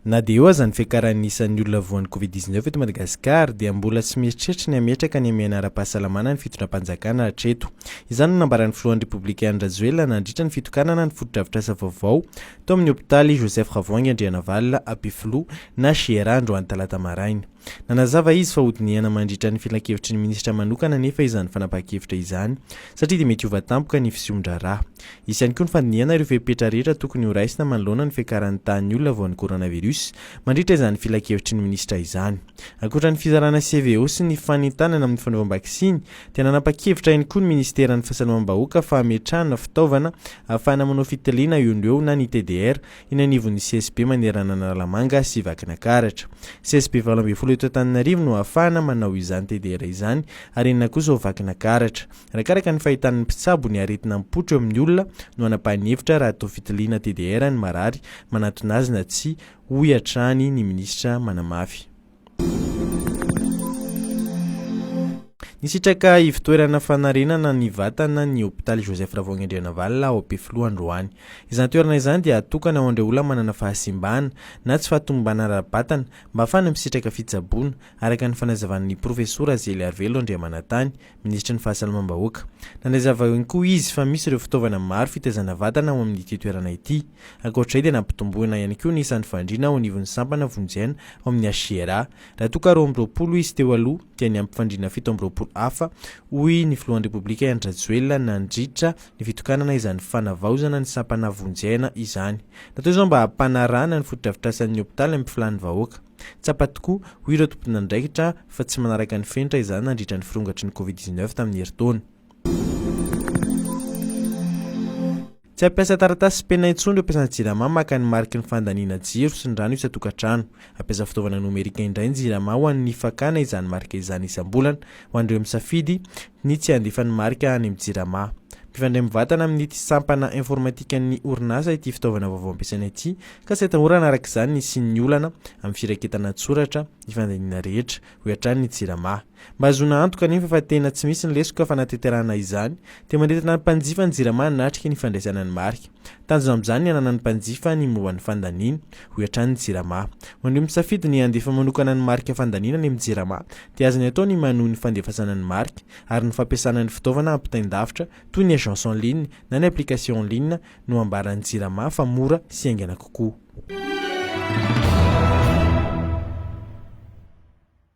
Na dia eo aza ny fiakaran'ny isan'ny olona voan'ny Covid dix-neuf eto Madagasikara dia mbola tsy mieritreritra ny hametraka ny hamehana ara-pahasalamana ny fitondram-panjakana hatreto. Izany no nambaran'ny filohan'ny Repoblika Andry Rajoelina nandritra ny fitokanana ny fotodrafitrasa vaovao tao amin'ny hopitaly Joseph Ravoahangy Andrianavalona, Ampefiloha, na GRA, androany talata maraina. Nanazava izy fa hodinihana mandritra ny filankevitry ny minisitra manokana anefa izany fanapahan-kevitra izany satria dia mety hiova tampoka ny fisoron-draharaha. Hisy ihany koa ny fandinihana ireo fepetra rehetra tokony horaisina manoloana ny fiakaran'ny tahan'ny olona voan'ny coronavirus mandritra izany filankevitry ny minisitra izany. Ankoatra ny fizarana CVO sy ny fanentanana amin'ny fanaovam-baksiny dia nanapa-kevitra ihany koa ny minisiteran'ny fahasalamam-bahoaka fa hametrahana fitaovana ahafahana manao fitiliana eo no eo na ny TDR eny anivon'ny CSB manerana Analamanga sy Vakinakaratra. CSB valo ambin'ny folo eto Antananarivo no ahafahana manao izany TDR izany ary enina kosa ao Vakinakaratra. Arakaraka ny fahitana ny mpitsabo ny aretina mipotro eo amin'ny olona no hanapahan'ny hevitra raha toa fitiliana TDR ny marary manatona azy na tsia, hoy hatrany ny minisitra manamafy. Nisitraka ivotoerana fanarenana ny vatana ny hopitaly Joseph Ravoahangy-Andrianavalona ao Ampefiloha androany. Izany toerana izany dia atokana ho an'ireo olona manana fahasimbana na tsy fahatombana ara-batana mba hahafahana misitraka fitsaboana, araka ny fanazavan'ny profesora Zeliarivelo Andriamanantany, Minisitry ny Fahasalamam-bahoaka. Nandray zavao ihany koa izy fa misy ireo fitaovana maro fitaizana vatana ao amin'ity toerana ity. Ankoatra izay dia nampitomboina ihany koa ny isan'ny fandriana ao anivon'ny sampana vonjena ao amin'ny HCRA. Raha toa ka roa amby roapolo izy teo aloha dia niampy fandriana fito amby roapolo hafa, hoy ny filohan'ny Repoblika Andry Rajoelina nandritra ny fitokanana izany fanavaozana ny sampana vonjena izany. Natao izao mba hampanarahana ny fotodrafitrasan'ny hopitaly amin'ny filàn'ny vahoaka. Tsapa tokoa, hoy ireo tomponandraikitra, fa tsy manaraka ny fenitra izany nandritra ny firongatry ny Covid dix neuf tamin'ny herintaona. Tsy hampiasa taratasy sy penina intsony ireo mpiasan'ny Jirama maka ny mariky ny fandaniana jiro sy ny rano isan-tokantrano. Hampiasa fitaovana nomerika indray ny Jirama ho an'ny fakana izany marika izany isam-bolana, ho an'ireo misafidy ny tsy handefa ny marika any amin'ny Jirama. Mifandray mivantana amin'ity sampana informatikan'ny orinasa ity fitaovana vaovao ampiasaina ity, Ka tsy atahorana araka izany ny hisian'ny olana amin'ny firaketana an-tsoratra ny fandaniana rehetra, hoy hatrany ny Jirama. Mba hahazoana antoka anefa fa tena tsy misy ny lesoka fanatanterahana izany, dia manentana ny mpanjifa ny Jirama hanatrika ny fandraisana ny marika. Tanjona amin'izany ny hananan'ny mpanjifa ny momba ny fandaniany, hoy hatrany ny Jirama. Ho an'ireo misafidy ny handefa manokana ny marika fandaniana any amin'ny Jirama dia azony atao ny manohy ny fandefasana ny marika ary ny fampiasana ny fitaovana ampitain-davitra toy ny agence en ligne na ny application en ligne no ambaran'ny Jirama fa mora sy haingana kokoa.